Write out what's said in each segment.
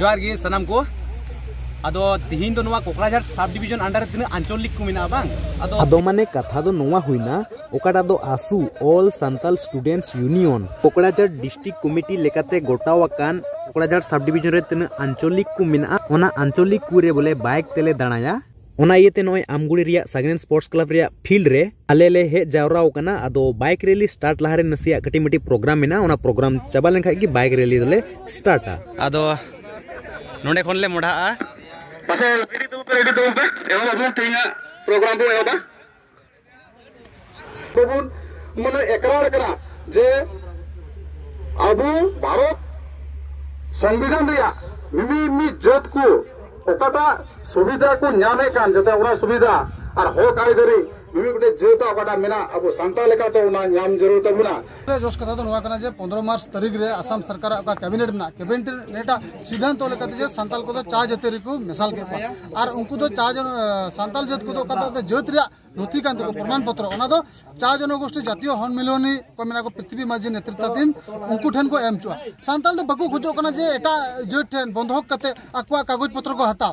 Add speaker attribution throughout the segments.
Speaker 1: ᱡᱚᱦᱟᱨ ᱜᱮ ᱥᱟᱱᱟᱢ ᱠᱚ ᱟᱫᱚ ᱛᱤᱦᱤᱧ ᱫᱚ ᱱᱚᱣᱟ ᱠᱚᱠᱲᱟᱡᱷᱟᱲ ᱥᱟᱵ ᱰᱤᱵᱤᱡᱚᱱ ᱟᱱᱰᱟᱨ ᱨᱮ ᱛᱤᱱᱟᱹᱜ ᱟᱧᱪᱚᱞᱤᱠ ᱠᱚ ᱢᱮᱱᱟᱜᱼᱟ ᱵᱟᱝ ᱟᱫᱚ ᱟᱫᱚ ᱢᱟᱱᱮ ᱠᱟᱛᱷᱟ ᱫᱚ ᱱᱚᱣᱟ ᱦᱩᱭᱱᱟ ᱚᱠᱟᱴᱟᱜ ᱫᱚ ASU all Santal students union Kokrajhar district committee ᱞᱮᱠᱟᱛᱮ ᱜᱚᱴᱟᱣ ᱟᱠᱟᱱ ᱠᱚᱠᱲᱟᱡᱷᱟᱲ ᱥᱟᱵ ᱰᱤᱵᱤᱡᱚᱱ ᱨᱮ ᱛᱤᱱᱟᱹᱜ ᱟᱧᱪᱚᱞᱤᱠ ᱠᱚ ᱢᱮᱱᱟᱜᱼᱟ ᱚᱱᱟ ᱟᱧᱪᱚᱞᱤᱠ ᱠᱚᱨᱮ ᱵᱚᱞᱮ ᱵᱟᱭᱤᱠ ᱛᱮᱞᱮ ᱫᱟᱬᱟᱭᱟ ᱚᱱᱟ ᱤᱭᱟᱹᱛᱮ ᱱᱚᱜᱼᱚᱭ ᱟᱢᱜᱩᱲᱤ ᱨᱮᱭᱟᱜ ᱥᱟᱜᱮᱱ ᱥᱯᱳᱨᱴᱥ ᱠᱞᱟᱵᱽ ᱨᱮᱭᱟᱜ ᱯᱷᱤᱞᱰ ᱨᱮ ᱟᱞᱮ ᱞᱮ ᱦᱮᱡ ᱡᱟᱣᱨᱟ ᱟᱠᱟᱱᱟ ᱟᱫᱚ ᱵᱟᱭᱤᱠ ᱨᱮᱞᱤ ᱥᱴᱟᱨᱴ ᱞᱟᱦᱟᱨᱮ ᱱᱟᱥᱮᱭᱟᱜ ᱠᱟᱹᱴᱤᱡ ᱢᱤᱴᱤᱡ ᱯᱨᱳᱜᱨᱟᱢ ᱢᱮᱱᱟᱜᱼᱟ ᱚᱱᱟ ᱯᱨᱳᱜᱨᱟᱢ ᱪᱟᱵᱟ ᱞᱮᱱᱠᱷᱟᱱ ᱜᱮ ᱵᱟᱭᱤᱠ ᱨᱮᱞᱤ ᱫᱚᱞᱮ ᱥᱴᱟᱨᱴᱟ ᱟᱫᱚ ᱱᱚᱰᱮ ᱠᱷᱚᱱ ᱞᱮ ᱢᱚᱰᱷᱟᱜᱼᱟ ᱯᱟᱥᱮ ᱨᱮᱰᱤ ᱫᱩᱲᱩᱵ ᱯᱮ ᱨᱮᱰᱤ ᱫᱩᱲᱩᱵ ᱯᱮ ᱮᱦᱚᱵ ᱟᱵᱚᱱ ᱛᱮᱦᱮᱧᱟᱜ ᱯᱨᱳᱜᱨᱟᱢ ᱵᱚᱱ ᱮᱦᱚᱵᱟ ᱵᱟᱵᱚᱱ ᱢᱟᱱᱮ ᱮᱠᱨᱟᱨ ᱠᱟᱱᱟ ᱡᱮ ᱟᱵᱚ ᱵᱷᱟᱨᱚᱛ ᱥᱚᱝᱵᱤᱫᱷᱟᱱ ᱨᱮᱭᱟᱜ ᱢᱤᱢᱤ ᱢᱤᱫ ᱡᱟᱹᱛ ᱠᱚ ᱚᱠᱟᱴᱟᱜ ᱥᱩᱵᱤᱫᱷᱟ ᱠᱚ ᱧᱟᱢᱮᱫ ᱠᱟᱱ ᱡᱟᱛᱮ ᱚᱱᱟ ᱥᱩᱵᱤᱫᱷᱟ ᱟᱨ ᱦᱚᱠ ᱟᱹᱭᱫᱟᱹᱨᱤ ᱢᱤᱢᱤᱫ ᱜᱚᱴᱮᱡ ᱡᱟᱹᱛᱟᱜ ᱚᱠᱟᱴᱟᱜ ᱢᱮᱱᱟᱜ ᱟᱵᱚ ᱥᱟᱱᱛᱟᱲ ᱞᱮᱠᱟᱛᱮ ᱚᱱᱟ ᱧᱟᱢ ᱡᱟᱹᱨᱩᱲ ᱛᱟᱵᱚᱱᱟ ᱡᱚᱥ ᱠᱟᱛᱷᱟ ᱫᱚ ᱱᱚᱣᱟ ᱠᱟᱱᱟ ᱡᱮ ᱯᱚᱱᱨᱚ ᱢᱟᱨᱪ ᱛᱟᱹᱨᱤᱠᱷ ᱨᱮ ᱟᱥᱟᱢ ᱥᱚᱨᱠᱟᱨ ᱚᱠᱟ ᱠᱮᱵᱤᱱᱮᱴ ᱢᱮᱱᱟᱜ ᱠᱮᱵᱤᱱᱮᱴ ᱱᱮᱴᱟᱜ ᱥᱤᱫᱷᱟᱱᱛᱚ ᱞᱮᱠᱟᱛᱮ ᱡᱮ ᱥᱟᱱᱛᱟᱞ ᱠᱚᱫᱚ ᱪᱟ ᱡᱟᱹᱛᱤ ᱨᱮᱠᱚ ᱢᱮᱥᱟᱞ ᱠᱮᱫ ᱠᱚᱣᱟ ᱟᱨ ᱩᱱᱠᱩ ᱫᱚ ᱪᱟ ᱥᱟᱱᱛᱟᱞ ᱡᱟᱹᱛ ᱠᱚᱫᱚ ᱚᱠᱟᱴᱟᱜ ᱫᱚ ᱡᱟᱹᱛ ᱨᱮᱭᱟᱜ ᱱᱚᱛᱷᱤ ᱠᱟᱱ ᱛᱟᱠᱚ ᱯᱨᱚᱢᱟᱱ ᱯᱚᱛᱨᱚ ᱚᱱᱟ ᱫᱚ ᱪᱟ ᱡᱚᱱᱚᱜᱳᱥᱴᱤ ᱡᱟᱛᱤᱭᱚ ᱦᱚᱱᱢᱤᱞᱚᱱᱤ ᱠᱚ ᱢᱮᱱᱟᱜ ᱠᱚ ᱯᱨᱤᱛᱷᱤᱵᱤ ᱢᱟᱹᱡᱷᱤ ᱱᱮᱛᱨᱤᱛᱟᱫᱷᱤᱱ ᱩᱱᱠᱩ ᱴᱷᱮᱱ ᱠᱚ ᱮᱢ ᱦᱚᱪᱚᱜᱼᱟ ᱥᱟᱱᱛᱟᱞ ᱫᱚ ᱵᱟᱠᱚ ᱠᱷᱚᱡᱚᱜ ᱠᱟᱱᱟ ᱡᱮ ᱮᱴᱟᱜ ᱡᱟᱹᱛ ᱴᱷᱮᱱ ᱵᱚᱱᱫᱷᱚᱠ ᱠᱟᱛᱮ ᱟᱠᱚᱣᱟᱜ ᱠᱟᱜᱚᱡᱽ ᱯᱚᱛᱨᱚ ᱠᱚ ᱦᱟᱛᱟᱣ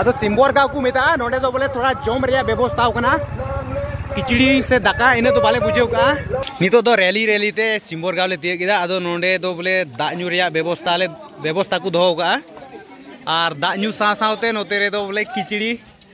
Speaker 1: ᱟᱫᱚ ᱥᱤᱢᱵᱚᱨ ᱜᱟᱶ ᱠᱚ ᱢᱮᱛᱟᱜᱼᱟ ᱱᱚᱰᱮ ᱫᱚ ᱵᱚᱞᱮ ᱛᱷᱚᱲᱟ ᱡᱚᱢ ᱨᱮᱭᱟᱜ ᱵᱮᱵᱚᱥᱛᱟ ᱠᱟᱱᱟ ᱠᱤᱪᱲᱤ ᱥᱮ ᱫᱟᱠᱟ ᱤᱱᱟᱹ ᱫᱚ ᱵᱟᱞᱮ ᱵᱩᱡᱷᱟᱹᱣ ᱠᱟᱜᱼᱟ ᱱᱤᱛᱚᱜ ᱫᱚ ᱨᱮᱞᱤ ᱨᱮᱞᱤ ᱛᱮ ᱥᱤᱢᱵᱚᱨ ᱜᱟᱶ ᱞᱮ ᱛᱤᱭᱟᱹᱜ ᱠᱮᱫᱟ ᱟᱫᱚ ᱱᱚᱰᱮ ᱫᱚ ᱵᱚᱞᱮ ᱫᱟᱜ ᱧᱩ ᱨᱮᱭᱟᱜ ᱵᱮᱵᱚᱥᱛᱟ ᱞᱮ ᱵᱮᱵᱚᱥᱛᱟ ᱠᱚ ᱫᱚᱦᱚ ᱠᱟᱜᱼᱟ ᱟᱨ ᱫᱟᱜ ᱧᱩ ᱥᱟᱶ ᱥᱟᱶᱛᱮ ᱱᱚᱛᱮ ᱨᱮᱫᱚ ᱵᱚᱞᱮ ᱠᱤᱪᱲᱤ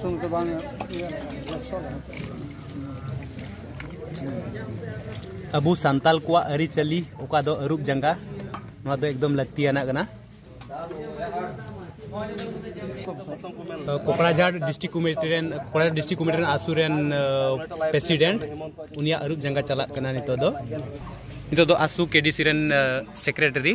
Speaker 1: ᱥᱩᱱ ᱠᱚ ᱵᱟᱝ ᱟᱵᱚ ᱥᱟᱱᱛᱟᱞ ᱠᱚᱣᱟᱜ ᱟᱹᱨᱤᱪᱟᱹᱞᱤ ᱚᱠᱟ ᱫᱚ ᱟᱹᱨᱩᱵ ᱡᱟᱸᱜᱟ ᱱᱚᱣᱟ ᱫᱚ ᱮᱠᱫᱚᱢ ᱞᱟᱹᱠᱛᱤᱭᱟᱱᱟᱜ ᱠᱟᱱᱟ ᱠᱚᱠᱲᱟᱡᱷᱟᱲ ᱰᱤᱥᱴᱨᱤᱠ ᱠᱚᱢᱤᱴᱤ ᱨᱮᱱ ᱠᱚᱠᱲᱟᱡᱷᱟᱲ ᱰᱤᱥᱴᱨᱤᱠ ᱠᱚᱢᱤᱴᱤ ᱨᱮᱱ ᱟᱥᱩ ᱨᱮᱱ ᱯᱨᱮᱥᱤᱰᱮᱱᱴ ᱩᱱᱤᱭᱟᱜ ᱟᱹᱨᱩᱵ ᱡᱟᱸᱜᱟ ᱪᱟᱞᱟᱜ ᱠᱟᱱᱟ ᱱᱤᱛᱚᱜ ᱫᱚ ᱱᱤᱛᱚᱜ ᱫᱚ ᱟᱥᱩ ᱠᱮᱰᱤᱥᱤ ᱨᱮᱱ ᱥᱮᱠᱨᱮᱴᱟᱨᱤ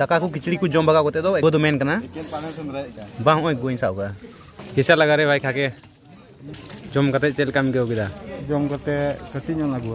Speaker 1: ᱫᱟᱠᱟ ᱠᱚ ᱠᱤᱪᱲᱤ ᱠᱚ ᱡᱚᱢ ᱵᱟᱜᱟᱣ ᱠᱟᱛᱮ ᱫᱚ ᱮᱜᱚ ᱫᱚ ᱢᱮᱱ ᱠᱟᱱᱟ ᱵᱟᱝ ᱦᱚᱸᱜᱼᱚᱭ ᱜᱚᱧ ᱥᱟᱵ ᱠᱟᱜᱼᱟ ᱠᱮᱥᱟ ᱞᱟᱜᱟ ᱨᱮ ᱵᱟᱭ ᱠᱷᱟᱠᱮ ᱡᱚᱢ ᱠᱟᱛᱮ ᱪᱮᱫ ᱞᱮᱠᱟᱢ ᱟᱹᱭᱠᱟᱹᱣ ᱠᱮᱫᱟ ᱡᱚᱢ ᱠᱟᱛᱮ ᱠᱟᱹᱴᱤᱡ ᱧᱚᱜ ᱟᱹᱜᱩ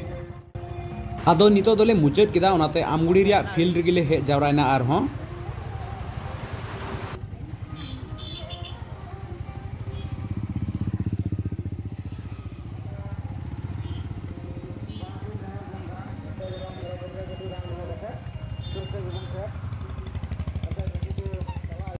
Speaker 1: ᱟᱫᱚ ᱱᱤᱛᱚᱜ ᱫᱚᱞᱮ ᱢᱩᱪᱟᱹᱫ ᱠᱮᱫᱟ ᱚᱱᱟᱛᱮ ᱟᱢᱜᱩᱲᱤ ᱨᱮᱭᱟᱜ ᱯᱷᱤᱞᱰ ᱨᱮᱜᱮ ᱞᱮ ᱦᱮᱡ ᱡᱟᱣᱨᱟᱭᱮᱱᱟ ᱟᱨᱦᱚᱸ